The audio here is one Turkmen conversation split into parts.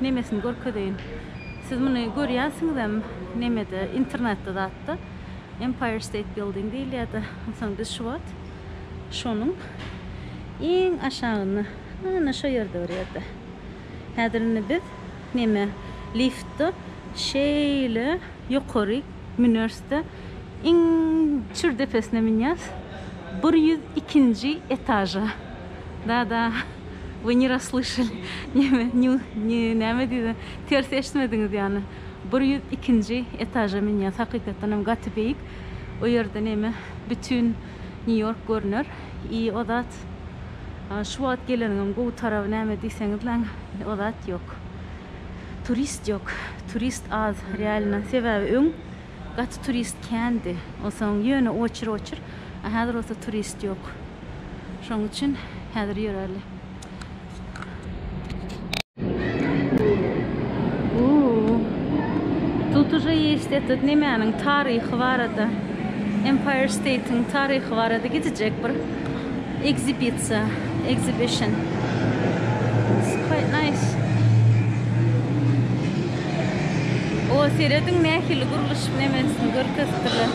Nemesini görkezeýin. Siz muny görýänsiňizem nemede internetde zatda Empire State Building diýilýärdi. Onsoň biz şu wagt şonuň iň aşagynda ana şo ýerde bir ýerde. Häzir indi biz neme liftde şeýle ýokaryk Müners-de iň çür depesine münýäs, bir ýüz ikinji etaža. Da-da, Вы ne rasslýşali, neme, nju, nji, näme diýdi, ters eşitmediňiz ýany. Bir ýüz ikinji etaža münýäs, hakykatdan hem gaty beýik. O ýerde neme, bütin Nýu-Ýork görner. I o zat, şu wagt geleniňem gowy taraby näme diýseňizläň, o zat ýok. Turist ýok turist az realno sebäbi öň gaty turist kändi onsoň ýöne oçur oçur a häzir bolsa turist ýok şoň üçin häzir ýörärli. Ooh tut uje ýeşt etet nemäniň taryhy barada empire state-iň taryhy barada gidijek bir. Ekzibisiýa, exhibition. It's quite nice. O, serediň nähili gurluşyk nemesini görkezipdirler.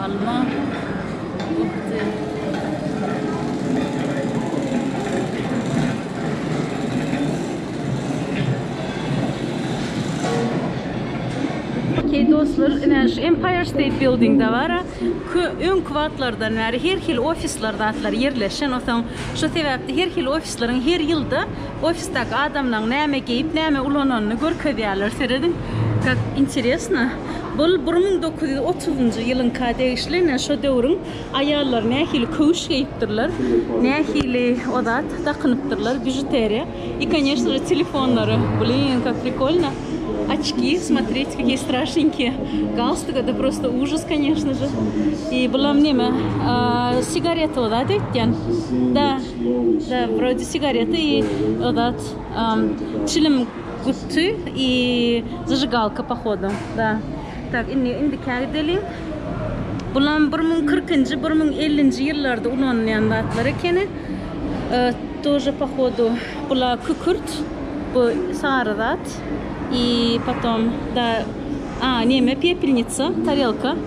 Alma. Okey dostlar, ine şu Empire State Building-de bar-a, öňki wagtlardan bäri her hili ofisler zatlar ýerleşen, onsoň şo sebäpli her hili ofisleriň her ýylda ofisdäki adamlaryň näme geýip, näme ulananyny görkezýärler, serediň, kak interesno. Bul bir müň dokuz ýüz otuzynjy ýylyňka degişli ine şo döwrüň aýallary nähili köwüş geýipdirler nähili o zat dakynypdyrlar bižuteriýa i koneşno je telefonlary blin kak prikolno oçki smotrite kakiý straşnenkiý galstuk ede prosto užas koneşno je i bulam neme sigareta o zat öýtýän da da brodi sigareta i o zat çilim. Guty i zajygalka pohodu da. Tak indi indikä gideliň. Bulam bir müň kyrkynjy bir müň ellinji ýyllarda ulanylýan zatlar ekeni. Тоже pohodu bula kükürt bu sary zat i potom da a neme pepelnitsa tarelka.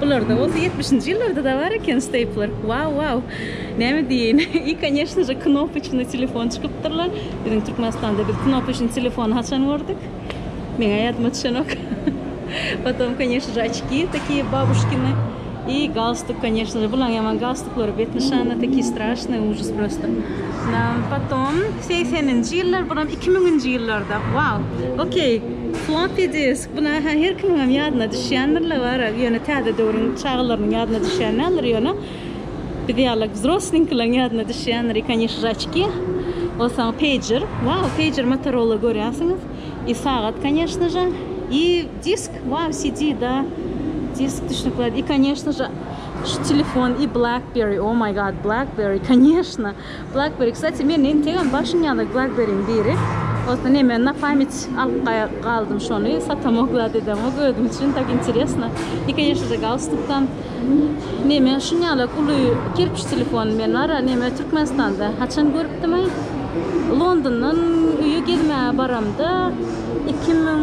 Bularda bolsa ýetmişinji ýyllarda-da bar eken steýpler. Wow, wow! Näme diýeýin? I koneşno je, knopyçny telefon çykypdyrlar. Biziň Türkmenistanda biz knopyçny telefony haçan gördük? Meň-ä ýadyma düşenok. Potom, koneşno je, oçki takiýe babuşkini. I galstuk, koneşno je, bulaň ýaman galstuklary, bet nyşanly takiýe straşnyý, ujis prosta. Na, potom, segseninji ýyllar, buram iki müňünji ýyllarda. Wow! Okey, floppy disk. Bular her kimiňem ýadyna düşýändirler barag, ýöne täze döwrüň çagalarynyň ýadyna düşýän däldir, ýöne biz ýaly wzroslinkilaň ýadyna düşýändir, i kanyş žaçki, onsoň peýjer, wau, peýjer Motorola görýänsiňiz, i sagat kanyşno ža, i disk, wau, CD, da, disk düşnükli zat, i kanyşno ža, şu telefon, i blackberry, o maý gad, blackberry, kanyşno. Blackberry kstati men entegem başym ýaly blackberryň biri bolsa neme na pamyt alyp galdym şony satamok zat edemok özüm üçin tak interesno i konýeşnije galstukdan neme şun ýaly uly kerpiç telefon men bara neme türkmenistanda haçan görüpdimaý londondan öýe gezmäge baramda iki müň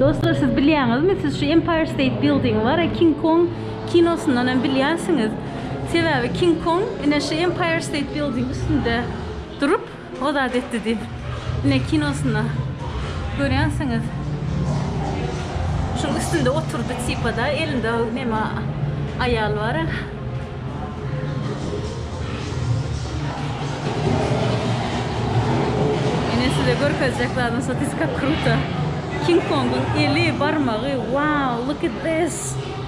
Dostlar siz bilýäňizmi, siz şu Empire State Building bar, King Kong kinosyndan hem bilýänsiňiz. Sebäbi King Kong ine şu Empire State Building üstünde durup, O zat etdi diýip. Ine kinosynda görýänsiňiz. Şuň üstünde oturdy tipada elinde neme aýal bara. Ine size görkezjek zadym sotiska kruta. King Kongyň eli barmagy wow look at this.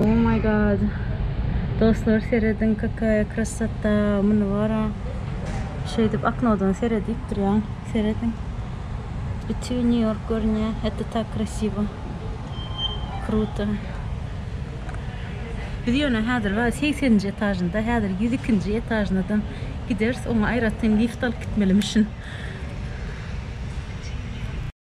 Oh my god Dostlar serediň kakaya krasota muny bara şeýdip oknodan seredip durýan serediň bütin New York görünýä это tak krasiwo kruto biz ýöne häzir bar segseninji etažynda häzir ýüz ikinji etažynadan gideris oňa aýratyn lift alyp gitmeli müşin.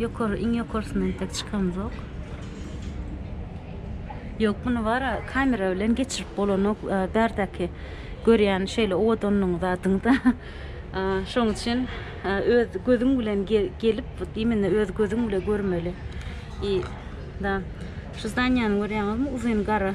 Ýokary, iň ýokarysyna entek çykamzok. Ýok, muny bara kamera bilen geçirip bolanok. Bärdäki görýän şeýle owadanlygyň zadyňda. Şoň üçin öz gözüň bilen gelip, imенно öz gözüň bilen görmeli. I da şu zdaniýany görýäňizmi? Uzyn gara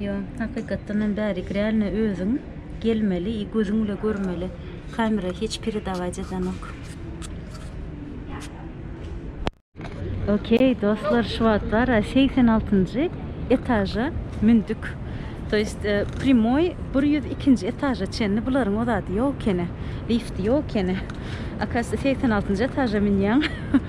Ýo, hakykatdan hem bärik realno özüň gelmeli i gözüň bile görmeli. Kamera hiç peredawaýt edenok. Okey dostlar şu wagt bara segsen altynjy etaža mündük. To ýest e, primoý bir ýüz ikinji etaža çenli bularyň o zady ýok ekeni. Lifti ýok ekeni. Akasda segsen altynjy etaža münýäň.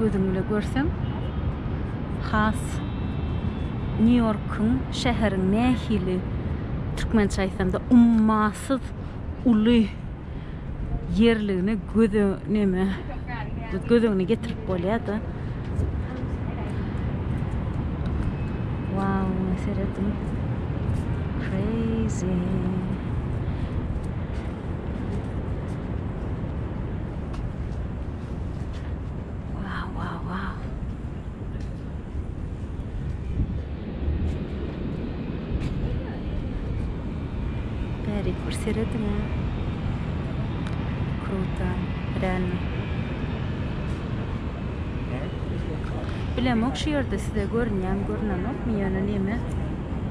Gözüm bile görsem has New Yorkyň şäheriň nähili türkmençe aýtsamda ummasyz uly ýerligini göz önüme göz öňüne getirip bolýada. Wow, seretdim. Crazy. Bärik bir serediň. Kruta, real. Bilemok şu ýerde size görünýämi görünenokmy ýöne näme?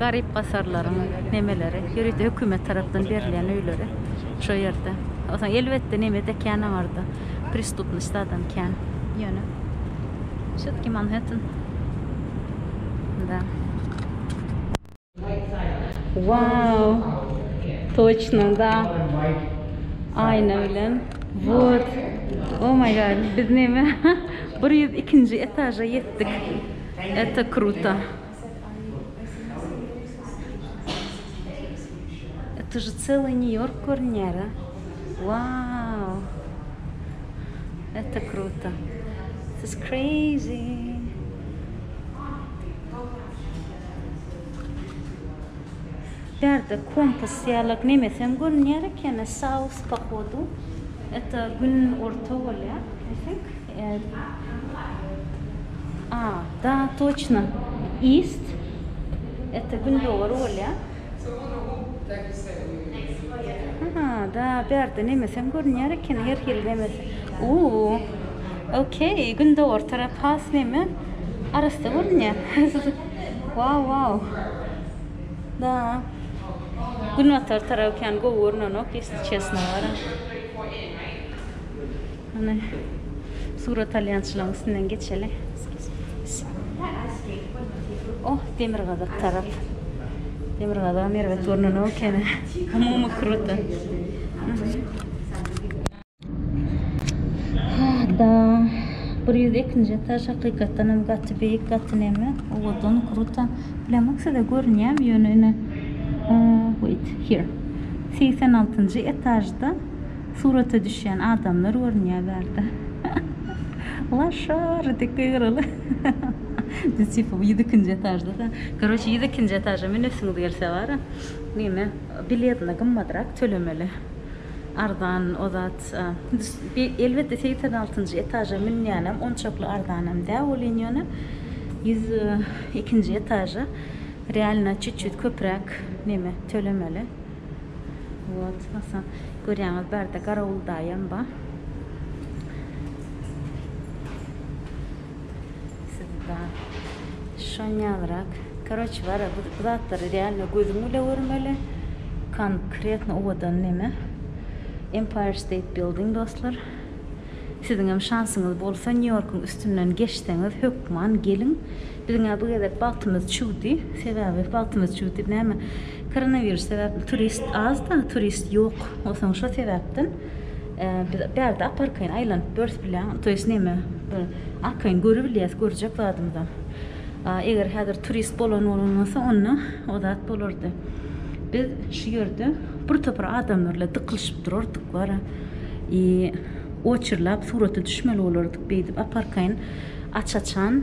garyp-gasarlaryň nemeleri, ýörite hökümet tarapdan berilýän öýleri şo ýerde. Onsoň elbetde neme-de kän aňarda, pristupnosty adam kän. Ýöne şetki Manhetten. Da. Wow! Toçno da. Aýna bilen. Wot. Oh my god, biz neme bir ýüz ikinji etaža ýetdik. Eto kruto. It uje celuy new york görünýär a waww eta kruto this is crazy. Bärde kompas ýalak nemesem görünýär ekeni south pohodu eta gün orta bolýar i think. A da toçno ist ete gündogar bolya ha da bärde nemesem görünýär eken her hili nemes uuu okey gündogar tarap has neme arassa görünýär wau wau da günbatar tarap kän gowy görnenok isli çesno bara. Hany, suratalýançylygyň üstünden geçeli. Oh, demirgazyk tarap. Demirgazygam erbet görnenok ekeni. Umumy kruto. Hada, bir ýüz ikinji etaž hakykatdan hem gaty beýik, gaty neme, owadan, kruto. Bilemok size görünýärmi, ýöne ine, wait, here. Segsen altynjy etažda Surata düşýän adamlar görünýä bärde. Laşar dek gygyraly. Biz tipa ýüz ikinji etažda-da. Koroçe ýüz ikinji etaža münesiňiz gelse bara, neme, biletini gymmadrak tölemeli. Arzan o zat. Elbetde segsen altynjy etaža münýänem onçakly arzanam dä welin ýöne ýüz ikinji etaža realno çüt-çüt köpräk neme tölemeli. Wot Hasan görýäňiz barda garawuldaýam ba. Siz ba. Şonýalrak. Karoç bara bu zatlary realno gözüň bile görmeli. Konkretno owadan neme. Empire State Building dostlar. Siziňem şansyňyz bolsa Nýu-Ýorkuň üstünden geçseňiz hökman geliň. Biziň-ä bu gezek bagtymyz çüwdi. Sebäbi bagtymyz çüwdi. Näme, koronawirus sebäpli turist az-da, turist ýok. Onsoň şo sebäpden biz bärde ap-arkaýyn aýlanyp börs bilen, to ýest näme, arkaýyn görübilýäs, görjek zadymyzam. Eger häzir turist bolan bolan bolsa, onda o zat bolardy. Biz şu ýerde bir topar adamlar bilen dykylyşyp durardyk wara. I oçerlap surata düşmeli bolardyk beýdip ap-arkaýyn aç-açan.